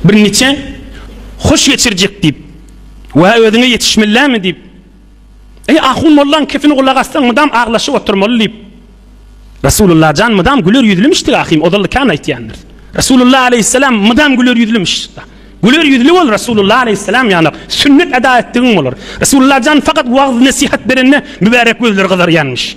Birniçe hoş geçirjek diýip, wä özüňe ýetişmellämi diýip, eý ahun mollaň kepini gulak assaň mydam aglaşyp oturmaly diýip, Resulullah jan mydam güler ýüzlümişdi ahym ozaly kän aýtýandyr. Resulullah aleýhissalam mydam güler ýüzlümiş. Güler ýüzli bol Resulullah aleýhissalam ýalak sünnet eda etdigiň bolar. Resulullah jan fakat wagz nesihat berende mübärek gözleri gyzarýanmyş.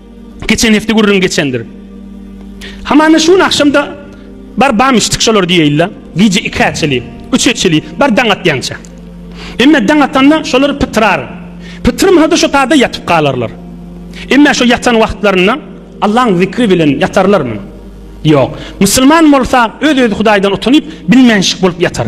Geçen hepde gürrüň geçendir. Hamana şu gün akşamda bar bam içdik şolar diýeýle. Gije 2-ä çeli, 3-e çeli bar daň atýança. Emme daň atanda şolar pytyrar. Pytyrmasa-da şo taýda ýatyp galarlar. Emme şo ýatan wagtlarynda Allaň zikri bilen ýatarlarmy? Ýok. Musulman bolsa öz-özi Hudaýdan utanyp, bilmänşik bolup ýatar.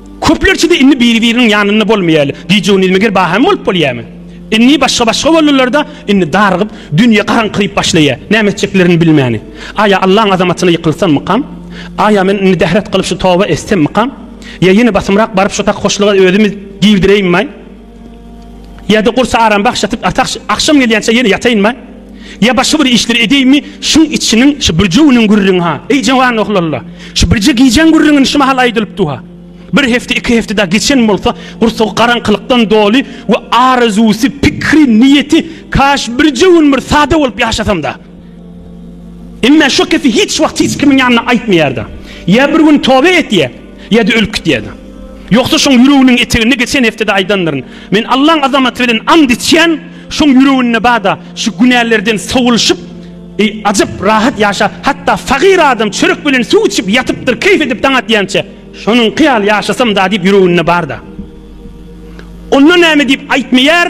Köplerçede indi biri-biriniň ýanynda bolmaýaly. Gije-gündiz meger baham bolup bolýamy? Indi başga-başga boldular-da, indi darygyp, dünýe garaňkyryp başlaýar. Näme etjeklerini bilmäni. Aý-a Allaň azamatyna ýykylsammykam? Aý-a men indi dehret gylyp şu toba etsemmikam? Ýa ýene basymrak baryp şu sak hoşluga özümi girdireýinmaý? Ýa-da gursa aram bagşlatyp ata agşam gelýänçä ýene ýataýynma? Ýa başga bir işleri edýinmi? Şuň içiniň şu birje günüň gürrüňi-ha. Eý jawan oglalla, şu birje gijäň gürrüňini şu mahal aýdylypdy-ha. Bir hepde, iki hepde dagy geçen bolsa, gursagy garaňkylykdan doly we arazusy, pikri, niýeti, Kaş birje gün bir sada bolup ýaşasam-da! Emma şu gepi hiç wagt hiç kimiň ýanynda aýtmaýardy. Ýa bir gün toba etýär, ýa-da ölüp gidýärdi. Ýogsa şoň ýüreginiň eteginde geçen hepdede aýdandyryn. Men Allaň azamaty bilen ant içýän, şoň ýüreginde bada şu günälerden sowulyşyp, ajap rahat ýaşa, hatda fagyr adam çörek bilen suw içip ýatypdyr, keýp edip daň atýança, şonuňky ýaly ýaşasam-da diýip ýüreginde barda. Onda näme diýip aýtmaýar,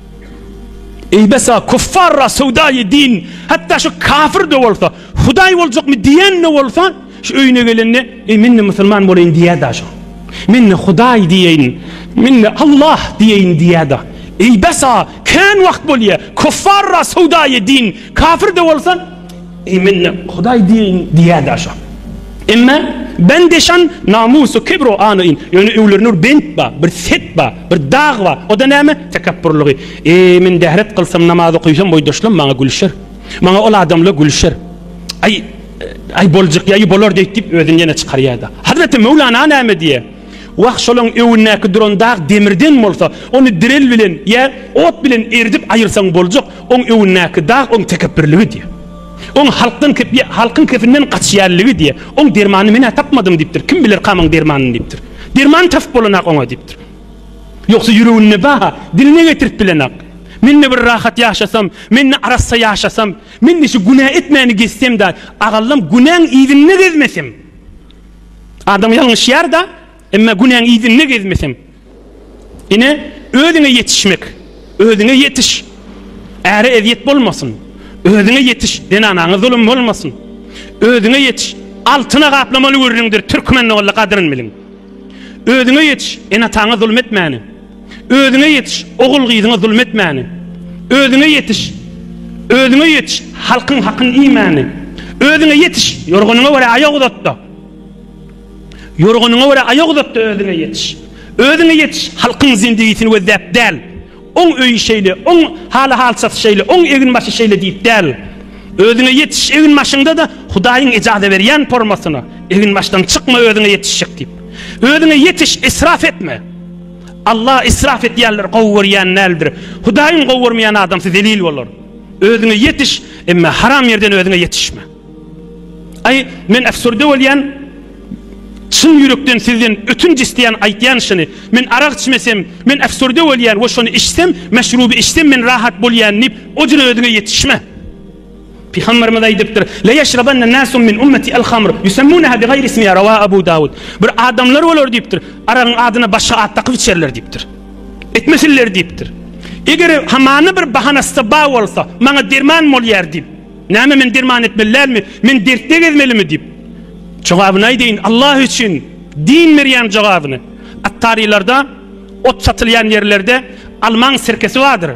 Eý besa kuffarra söwdaýy din hatda şu kafirde bolsa hudaý boljakmy diýende bolsa şu öýüne gelende eý mende musulman boleýin diýäda şu mende hudaý diýeýin mende Allah diýeýin diýäda eý besa kän wagt bolýa kuffarra söwdaýy din kafirde bolsa Eý mende Hudaý diýeýin diýýärdi aşak. Emme bende şan, namus-u kibr-u ana-in, ýöne öwlerinde bir bent bar, bir set bar, bir dag bar, o-da näme? Tekepburlygy. Eý, men dehret kylsam, namaz okyşam boýdaşlam maňa gülşer. Maňa ol adamlar gülşer. Aý, aý boljak ýaýy bolar-deý diýip özüni ýene çykarýardy. Hazreti Möwlana näme diýer? Wah, şolaň öwündäki duran dag demirden bolsa, ony direl bilen ýa ot bilen eridip aýyrsaň boljak, oň öwündäki dag oň tekepbirligi diýýär. Oň halkdan halkyň kefinden gaçýanligi diýýär. Oň dermanyny men-ä tapmadym diýipdir. Kim bilerka muň dermanyny diýipdir. Derman tapyp bolanok oňa diýipdir. Ýogsa ýüreginde ba-ha, diline getirip bilenok. Men-de bir rahat ýaşasam, men-de arassa ýaşasam, men-de şu günä etmäni gezsem-de, agallam günäň yzynda gezmesem. Adam ýalňyşýar-da, emma günäň yzynda gezmeseň, ine, özüňe ýetişmek, özüňe ýetiş, äre ezýet bolmasyn, özüňe ýetiş, zenanaňa zulum bolmasyn, özüňe ýetiş, altyna gaplamaly gürrüňdir, türkmen ogly, gadryn biliň, özüňe ýetiş, ene-ataňa zulum etmäni. Özüňe ýetiş, ogul-gyzyňa zulum etmäni. Özüňe ýetiş, özüňe ýetiş, halkyň hakyny iýmäni. Özüňe ýetiş, ýorganyňa görä aýak uzat-da. Ýorganyňa görä aýak uzat-da özüňe ýetiş. Özüňe ýetiş, halkyň zindigisini gözläp däl. Oň öýi şeýle, oň haly-halçasy şeýle, oň egin-başy şeýle diýip däl. Özüňe ýetiş, egin-başyňda-da Hudaýyň ejaza berýän pormasyna, egin-başdan çykma özüňe ýetişjek diýip. Özüňe ýetiş, israf etme. Allah israf edýänleri gowy görýän däldir. Hudaýyň gowy görmeýän adamsy zelil bolar. Özüňe ýetiş, emma haram ýerden özüňe ýetişme. Aý, men äfsürde bolýan. Çyn ýürekden sizden ötünç isleýän aýtýan şuny. Men arak içmesem, men äfsürde bolýan we şony içsem, meşruby içsem men rahat bolýan diýip, o jür özüňe ýetişme. Pygamberimiz aýdypdyr, La ýeşrabanna nasun min ummeti al-hamr, ýusemmunaha bi gaýri ismiha, rawa Abu Dawud. Bir adamlar bolar diýipdir, aragyň adyna başga at dakyp içerler diýipdir. Etmesinler diýipdir. Eger hamana bir bahanasy bar bolsa, maňa derman bolýar diýip, näme men derman etmeli dälmi? Men dertde gezmelimi diýip. Jogabyny aýdaýyn, Allah üçin din berýän jogabyny. Attarylarda ot satylýan ýerlerde almaň sirkesi bardyr.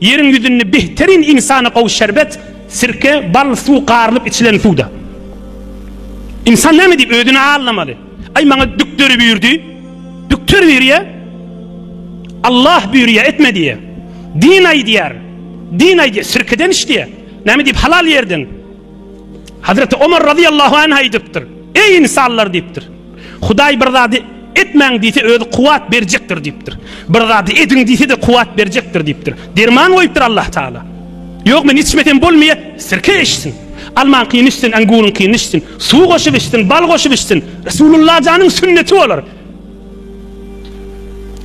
Ýeriň ýüzünde behteryn ynsana gowy şerbet, sirke, bal, suw garylyp içilen suwda. Ynsan näme diýip özüni aldamaly? Aý maňa dükderi buyurdy. Dükter buyurýa. Allah buyurýa etme diýe. Din aýdýar. Din aýdýa sirkeden iç diýe. Näme diýip halal ýerden. Hazreti Omar razyýallahu anh aýdypdyr. Eý ynsanlar diýipdir. Hudaý bir zady etmäň diýse özi kuwwat berjekdir diýipdir. Bir zady ediň diýse-de kuwwat berjekdir diýipdir. Derman goýupdyr Allah Taala. Ýok men içmesem bolmaýa, sirke içsin. Almaňkyny içsin, anguryňkyny içsin, suw goşup içsin, bal goşup içsin. Resulullah janyň sünneti bolar.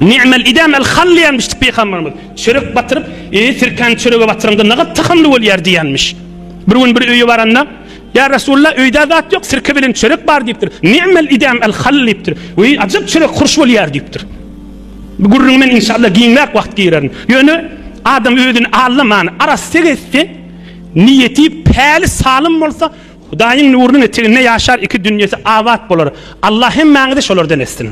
Ni'mel idam el hall diýenmişdi pygamberimiz. Çörek batyryp, e sirkäni çörege batyryňda nagat tahamly bolýar diýenmiş. Bir gün bir öýe baranda Ýa Resulalla öýdä zat ýok sirke bilen çörek bar diýipdir. Ni'mel idam el hal diýipdir. Weý ajyp çörek hurş bolýar diýipdir. Bu gürrüňi men inşallah giňräk wagt girerin. Ýöne adam özüni allaman arassa etse, niýeti päli salym bolsa Hudaýyň nurunyň eteginde ýaşar iki dünýesi abat bolar. Allah hemmäňizi şolardan etsin.